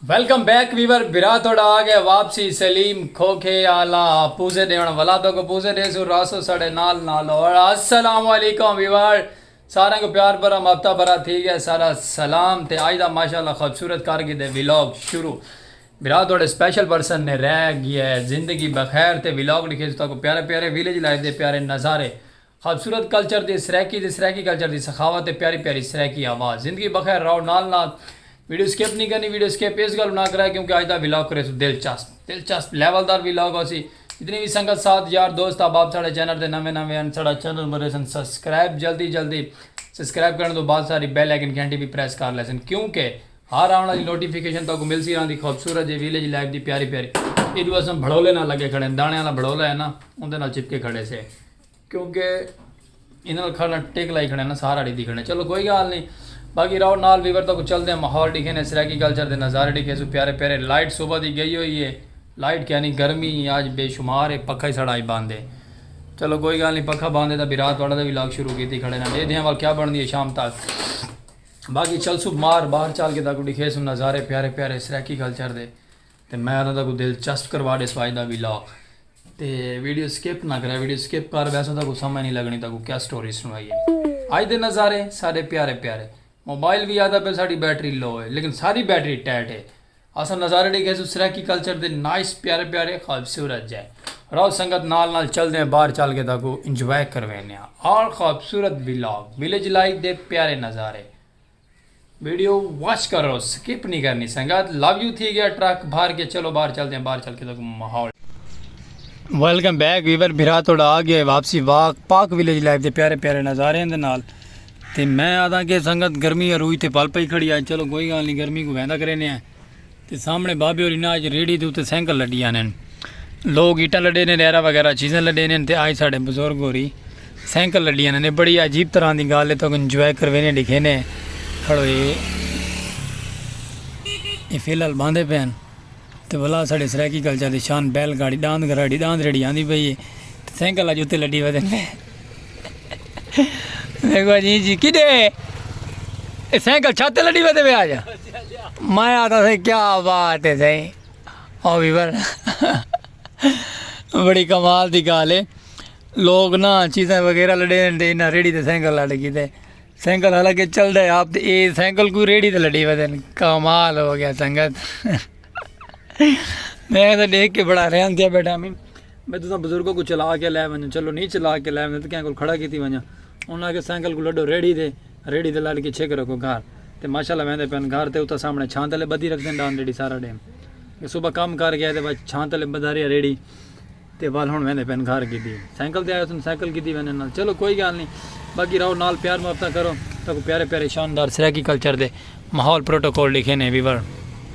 Welcome back viewer بھرا تہاڈا آ گئے واپسی سلیم کھوکھے آلا پوزے ڈیون والا تو کو پوزے دے سو راسو ساڈے نال نال اور السلام علیکم ویور سارے کو پیار بھرا مفتا بھرا تھی گیا سارا سلام تے آج دا ماشاءاللہ خوبصورت کر گئے دے ویلاگ شروع بھرا تہاڈے سپیشل پرسن نے رہ گیا ہے زندگی بخیر تے ویلاگ ڈکھے سو تا کو پیارے پیارے ویلیج لائف دے پیارے نظارے خوبصورت کلچر دی سرائیکی تے سرائیکی کلچر دی سخاوت تے پیاری پیاری سرائیکی آواز زندگی بخیر راہو نال نال ویڈیو سکپ نی کرنی ویڈیو سکپ اس گلوں نہ کرائے کیونکہ اج دا ولاگ کرے سو دلچسپ دلچسپ لیول دار ولاگ ہوسی جتنی وی سنگت ساتھ یار دوست احباب ساڈے چینل تے نویں نویں ہن ساڈا چینل مرے سن سبسکرائب جلدی جلدی سبسکرائب کرن تو بعد ساری بیل آئیکن گھنٹی بھی پریس کر لے سن کیونکہ ہر آون والی نوٹیفیکیشن تاکو مل سی راندی خوبصورت جے ویلیج لائف دی پیاری پیاری ایڈو اسم بھڑولے نال لگے کھڑے دانے والا بھڑولا ہے نا اوندے نال چپکے کھڑے سے کیونکہ انہاں نال کھڑنا ٹک لائی کھڑے نا سارا ڈی دکھڑے چلو کوئی گال نہیں باقی راؤ نال ویور تک چل دے ماحول ڈکھے نے سرائیکی کلچر دے نظارے ڈکھے سو پیارے پیارے لائٹ صبح دی گئی ہوئی ہے لائٹ کیا نہیں گرمی آج بے شمار ہے پکھا ہی سڑائی باندھ ہے چلو کوئی گال نہیں پکھا باندھ ہے تا بھی رات والا دا بھی لاگ شروع کیتی کھڑے نا دے دیاں وال کیا بن دی ہے شام تک باقی چل سو مار باہر چال کے تک ڈکھے سو نظارے پیارے پیارے سرائیکی کلچر دے تے میں انہاں دا کوں دل چسپ کروا ڈیس واج دا وی لاک تے ویڈیو سکپ نہ کرے ویڈیو سکپ کر ویسو تاں کوں سمجھ نہیں لگنی تاں کوں کیا سٹوری سنوائی ہے اج دے نظارے سارے پیارے پیارے موبائل وی آدھا پہ ساڈی بیٹری لو ہے لیکن ساری بیٹری ٹیٹ ہے اساں نظارے ڈیکھے سو سرائیکی کلچر دے نائس پیارے پیارے خوبصورت جائے راو سنگت نال نال چل دیں باہر چل کے تاکو انجوائے کروینے ہیں آل خوبصورت ویلاگ ویلیج لائف دے پیارے نظارے ویڈیو واچ کرو سکپ نہیں کرنی سنگت لو یو تھی گیا ٹرک بھر کے چلو باہر چلتے ہیں باہر چل کے تو ماحول ویلکم بیک ویور بھرا توڑا آ گیا واپسی واک پاک ویلیج لائف دے پیارے پیارے نظارے دے نال تے میں آدھا کہ سنگت گرمی روئی تے پل پئی کھڑی آئے چلو کوئی گال نہیں گرمی کو ویندا کرینے ہیں تے سامنے بابے ہوری ناں اچ ریڑھی دے اتے سینکل لڈی آنن۔ لوگ ایٹاں لڈے نے ریرہ وغیرہ چیزاں لڈے نے تے آج ساڈے بزرگ ہوری سینکل لڈی آنن۔ اے بڑی عجیب طرح دی گالھ اے تو کن انجوائے کروے نے ڈیکھے نے کھڑو اے اے فی الحال باندھے پے ہن۔ تے ولا ساڈے سرائیکی کلچر دی شان بیل گاڑی ڈاند گھراڑی ڈاند ریڑھی آندی پئی اے تے سینکل اج اتے لڈی ودن پے۔ دیکھو جی جی کدے اے سائیکل چھت تے لڈی ویندے وے آ جا میں آتا سے کیا بات ہے سائیں او بھی بر بڑی کمال دی گال ہے لوگ نا چیزیں وغیرہ لڈے دے نہ ریڑی تے سائیکل لڈ گئی تے سائیکل حالانکہ چل دے آپ تے اے سائیکل کوئی ریڑی تے لڈی ویندے کمال ہو گیا سنگت میں تے دیکھ کے بڑا رہن دیا بیٹھا میں میں تساں بزرگاں کوں چلا کے لے ونجاں چلو نی چلا کے لے ونجاں تاں کہیں کول کھڑا کیتی ونجاں انہاں آکھیا سائیکل کوں لڈو ریڑھی تے ریڑھی تے لڈ کے چھک رکھو گھر تے ماشاءاللہ ویندے پن گھر تے اتھاں سامنے چھاں تلے بدھی رکھدن ڈان ریڑھی سارا ڈینہہ کہ صبح کم کر گئے تے چھاں تلے بدھا رہیا ریڑھی تے ول ہن ویندے پن گھر کیتی سائیکل تے آئے تن سائیکل کیتی ویندے نال چلو کوئی گل نہیں باقی رہو نال پیار محبتاں کرو تاکو پیارے پیارے شاندار سرائیکی کلچر دے ماحول پروٹوکول لکھے نے ویور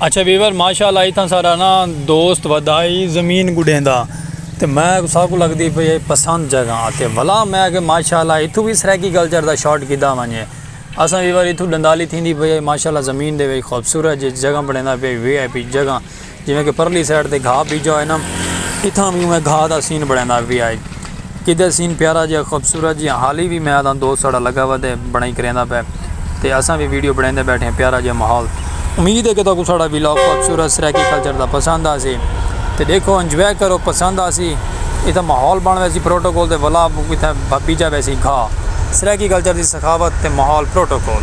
اچھا ویور ماشاءاللہ ایتھا سارا نا دوست ودائی زمین گڈھیں دا تے میں ساکو کو لگدی پئی ہے پسند جگہ تے ولا میں کہ ماشاءاللہ ایتھو بھی سرائیکی کلچر دا شارٹ کیتا ونجے اساں ویور ایتھو ڈندالی تھیندی پئی ہے ماشاءاللہ زمین دے وچ خوبصورت جگہ بنیندا پئی وی آئی پی جگہ جیویں کہ پرلی سائیڈ تے گھاہ بیجا ہوئے نا اتھاں بھی میں گھاہ دا سین بنڑیندا وی آئے کدھے سین پیارا جیہا خوبصورت جیہا حالی وی میں آدھاں دوست ساڑا لگا ہوا تے بنڑائی کریندا پے تے اساں وی ویڈیو بنڑیندے بیٹھے ہیں پیارا جیہا ماحول امید ہے کہ تہاکوں ساڑا ولاگ خوبصورت سرائیکی کلچر دا پسند آسی تے دیکھو انجوائے کرو پسند آسی اتھا ماحول بن ویسی پروٹوکول تے ولا اتھا بیجا ویسی گھاہ سرائیکی کلچر دی سخاوت تے ماحول پروٹوکول۔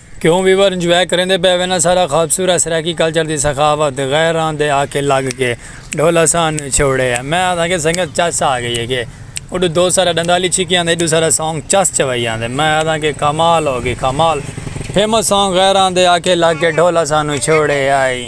کیوں ویور انجوائے کریندے پئے وینا سارا خوبصورت سرائیکی کلچر دی سخاوت غیراں دے آکھے لگ کے ڈھول اسان چھوڑے ہے میں آدھاں کے سنگت چس آ گئی ہے کے اڈو دو سارا ڈندالی چھکی آندے ایڈو سارا سانگ چس چوائی آندے میں آدھاں کے کمال ہو گئی کمال فیمس سانگ غیراں دے آکھے لگ کے ڈھول اسان چھوڑے ہے۔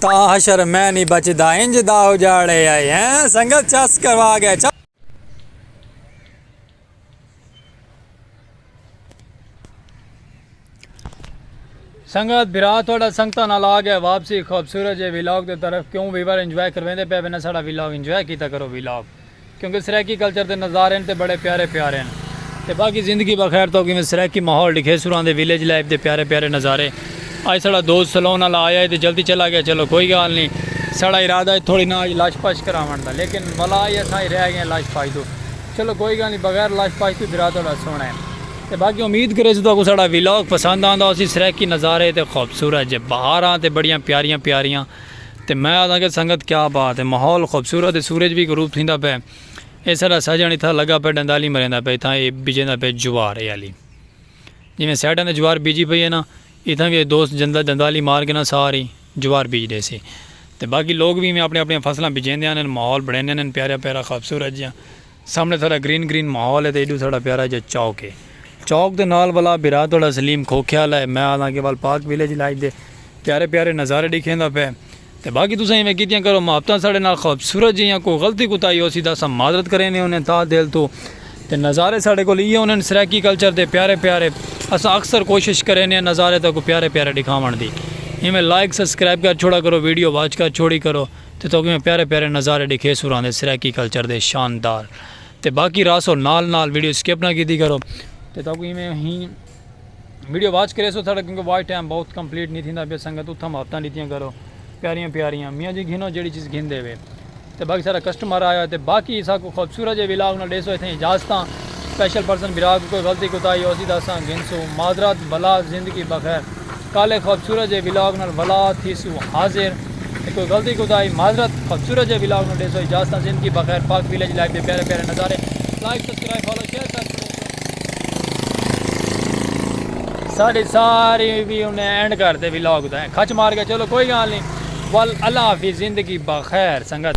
تا حشر میں نی بچدا انج دا اجاڑے آئے ہیں سنگت چس کروا گئے چس سنگت بھرا تھوڑا سنگتا نال آ گیا واپسی خوبصورت جے ویلاگ دے طرف کیوں ویور انجوائے کرویندے پے وینا ساڑا ویلاگ انجوائے کیتا کرو ویلاگ کیونکہ سرائیکی کلچر دے نظارے ہن تے بڑے پیارے پیارے ہن۔ تے باقی زندگی بخیر توک ایویں سرائیکی ماحول ڈکھے سراں دے ویلیج لائف دے پیارے پیارے نظارے اج ساڑا دوست سلون آلا آیا ہے تے جلدی چلا گیا چلو کوئی گال نی ساڑا ارادہ ہے تھوڑی نا اج لش پش کراون دا لیکن ولا اج اساں اج رہ گئے ہیں لش پش توں چلو کوئی گال نی بغیر لش پش توں درا تہاڈا سوہنا ہے تے باقی امید کریسوں تہاکوں ساڑا ویلاگ پسند آندا ہوسی سرائیکی نظارے تے خوبصورت جے بہاراں تے بڑیاں پیاریاں پیاریاں تے میں آدھاں کہ سنگت کیا بات ہے ماحول خوبصورت ہے سورج وی غروب تھیندا پئے اے ساڈا ساجن اتھاں لگا پئے ڈندالی مریندا پئے اتھاں اے بجیندا پئے جوار اے آلی جیویں سائیڈاں تے جوار بیجی پئی ہے نا اتھاں وی اے دوست ڈندالی مار کے نا ساری جوار بیج ڈیسی تے باقی لوگ وی ایویں اپنی اپنی فصلاں بجیندے آندن ماحول بنڑیندے آندن پیارا پیارا خوبصورت جیہاں۔ سامنے تھوڑا گرین گرین ماحول ہے تے ایڈو ساڑا پیارا جا چوک ہے۔ چوک دے نال والا بھرا تھوڑا سلیم کھوکھے والا ہے۔ میں آنداں کہ وال پارک ویلیج لائف دے پیارے پیارے نظارے ڈیکھیندا پئے۔ تے باقی تساں ایویں کیتیاں کرو محبتاں ساڑے نال خوبصورت جیاں کوئی غلطی کوتاہی ہوسی تاں اساں معذرت کریندے ہوندے ہیں تہہ دل توں۔ تے نظارے ساڑے کول ایہے ہوندے ہیں سرائیکی کلچر دے پیارے پیارے۔ اساں اکثر کوشش کریندے ہیں نظارے تہاکوں پیارے پیارے ڈکھاوݨ دی۔ ایویں لائک سبسکرائب کر چھوڑا کرو ویڈیو واچ کر چھوڑی کرو۔ تے تہاکوں ایہ پیارے پیارے نظارے ڈیکھے سوراں دے سرائیکی کلچر دے شاندار تے باقی رہسو نال نال ویڈیو سکپ نہ کیتی کرو تے تہاکوں ایویں اہیں ویڈیو واچ کریسو ساڈا کیونکہ واچ ٹائم بہت کمپلیٹ نہیں تھیندا پیا سنگت اتھاں محبتاں ڈتیاں کرو پیاریاں پیاریاں میاں جی گھنو جیڑی چیز گھن دے وے تے باقی سارا کسٹمر آیا تے باقی ساکوں خوبصورت جے ولاگ نال ڈیسو اتھیں اجازتاں سپیشل پرسن بھرا کوں کوئی غلطی کوتاہی ہوسی تاں اساں گھنسوں معذرت بھلا زندگی بخیر۔ کالے خوبصورت جے ولاگ نال ولا تھیسو حاضر تے کوئی غلطی کوتاہی معذرت خوبصورت جے ولاگ نو ڈیسو اجازتاں زندگی بخیر پاک ویلیج لائف دے پیارے پیارے نظارے لائک سبسکرائب فالو شیئر کر چھوڑیسو۔ ساڈی ساری وی انہیں اینڈ کر تے ولاگ دا کھچ مار گئے چلو کوئی گال نی ول اللہ حافظ زندگی بخیر سنگت۔